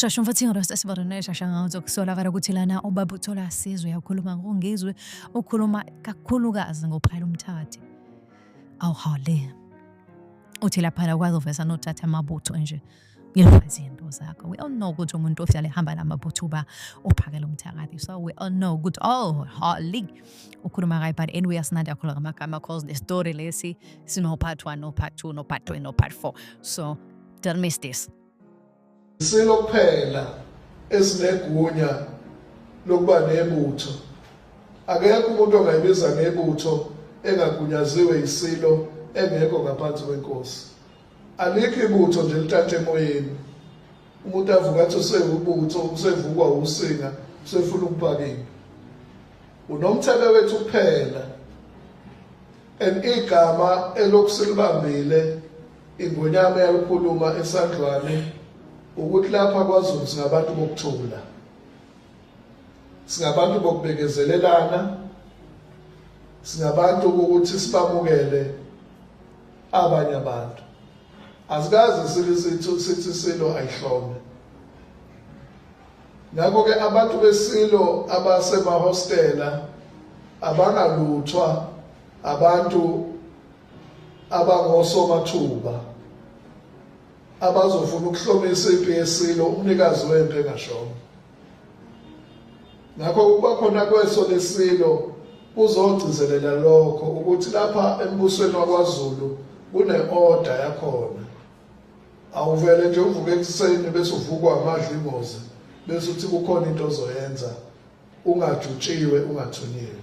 shasha umfathi ingalo sasibona naye shasha ngazo kusolakala ukuthi lana ubaba uthola asizwe yakhuluma ngongizwe ukhuluma kakhulukazi ngophayela umthathi awuhawule uthi laphana ukwazi uvesa nothatha amabutho nje ngiyakwazi into zakho we all know ukuthi umuntu ohlale hamba namabutho uba uphakela umthakathi so we all know ukuthi oh holy ukhuluma kayi but anyway asinandi akhula ngamagama cause the story lesi sino part 1 no part 2 no part 3 no part 4 so don't miss this silo kuphela esinegunya lokuba nebutho akekho umuntu ongayibiza ngebutho engagunyaziwe isilo engekho ngaphansi kwenkosi Alikho ibutho nje lithathe emoyeni. Umuntu avuka athi usewubutho, usevukwa usinga, usefuna ukubakini. Unomthebe wethu kuphela. And igama elokusilibambile ingonyama yalikhuluma esandlwane ukuthi lapha kwaZulu singabantu bokuthula. Singabantu bokubekezelelana. Singabantu ukuthi sibamukele abanye abantu asikaze sike sithi silo ayihlome ngakho-ke abantu besilo abasemahostela abangaluthwa abantu abangosomathuba abazofuna ukuhlomisa impi yesilo umnikazi wempi engashongo ngakho ukuba khona kweso lesilo kuzogcizelela lokho ukuthi lapha embusweni wakwaZulu kune-order yakhona awuvele nje uvuke ekuseni bese uvukwa amadlingozi bese uthi kukhona into ozoyenza ungajutshiwe ungathunyiwe